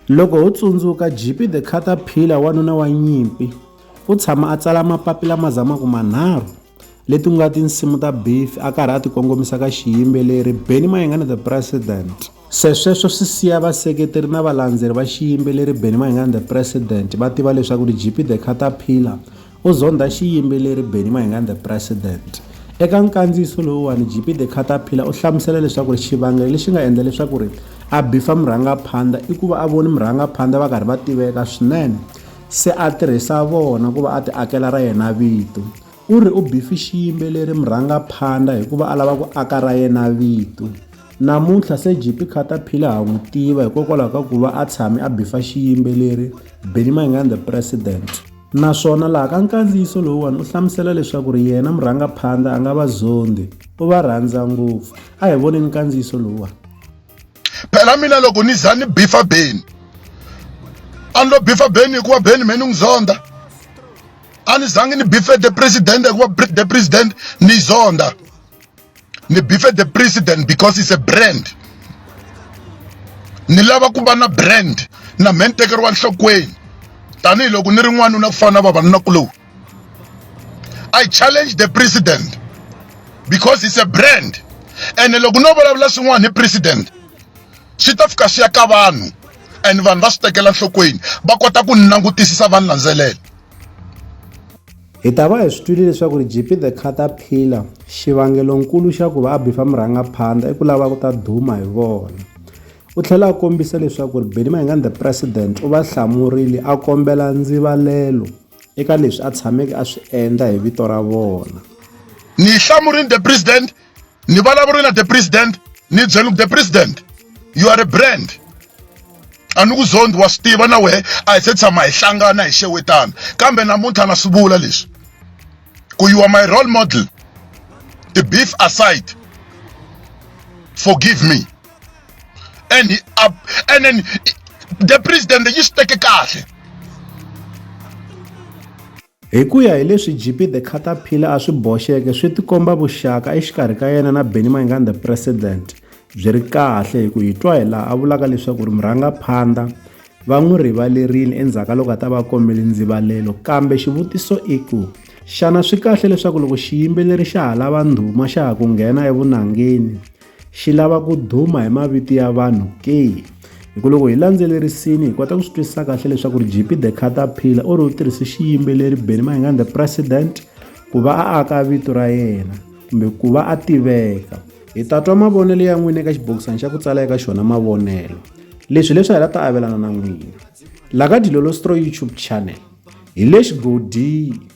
Loko ho tsundzuka Jippy the Caterpillar wanuna wa nyimpi, u tshama a tsala mapapila ma zamaka manharhu, leti nga tinsimu ta Biffy a karhi a tikongomisa ka xiyimbeleri Benny Mayengani the President. Se sweswo swi siya vaseketeri na valandzeri va xiyimbeleri Benny Mayengani the President va tiva leswaku ri Jippy the Caterpillar U zondha xiyimbeleri Benny Mayengani The President. Eka nkandziyiso lowuwani, JP The Caterpillar u hlamusela leswaku xivangelo lexi nga endla leswaku ri a bifa murhangaphandha i ku va a voni murhangaphandha va karhi va tiveka swinene se a tirhisa vona ku va a ti akela ra yena vito. U ri u bifi xiyimbeleri murhangaphandha hikuva a lava ku aka ra yena vito. Namuntlha se JP Caterpillar ha n'wi tiva hikokwalaho ka ku va a tshame a bifa xiyimbeleri Benny Mayengani The President. Naswona laha ka nkandziyiso lowuwani u hlamusela leswaku ri yena murhangaphandla a nga va zondi, u va rhandza ngopfu. A hi voneni nkandziyiso lowuwani. Phela mina loko ni za ni bifa Beni, a ni lo bifa Beni hikuva Beni me ni n'wi zonda. A ni zangi ni bife the president hikuva the president ni zonda. ni bife the president because is a brand ni lava ku va na brand na me ni tekeriwa nhlokweni tanihiloko ni ri n'wanuna ku fana na vavanunakuloni i challenge the president because he's a brand ene loko no vulavula swin'wana hi president swi ta fika swi ya ka vanhu and vanhu va swi tekela nhlokweni va kota ku ni langutisisa va ni landzelela Hi ta va hi swi twile leswaku ri JP The Caterpillar xivangelonkulu xa ku va a bifa murhangaphandla i ku lava ku ta duma hi vona. U tlhela a kombisa leswaku ri Benny Mayengani the President u va hlamurile a kombela ndzivalelo eka leswi a tshameke a swi endla hi vito ra vona. Ni hlamurile the President ni vulavurile na the president ni byela the president you are a brand a ni ku zondi wa swi tiva na wehe a hi se tshama hi hlangana hi xewetana kambe namuntlha na swi vula leswi ku you are my role model the beef aside forgive me and he up and then the president yi swi teke kahle Hi ku ya hi leswi JP The Caterpillar a swi boxeke, swi tikomba vuxaka exikarhi ka yena na Benny Mayengani The President byi ri kahle hi ku hi twa hi laha a vulaka leswaku ri murhangaphandha va n'wi rivalerile endzhaku ka loko a ta va kombele ndzivalelo kambe xivutiso i ku xana swi kahle leswaku loko xiyimbeleri xa ha lava ndhuma xa ha ku nghena evunangeni Xi lava ku duma hi mavito ya vanhu ke? Hi ku loko hi landzelerisini hi kota ku swi twisisa kahle leswaku ri JP the Caterpillar u ri u tirhise xiyimbeleri Benny Mayengani the President ku va a aka vito ra yena kumbe ku va a tiveka. Hi ta twa mavonelo ya n'wina eka xibokisana xa ku tsala eka xona mavonelo. Leswi leswi hi la ta avelana na n'wina. La ka Dilolo Stroy YouTube channel. Hi le xigodini.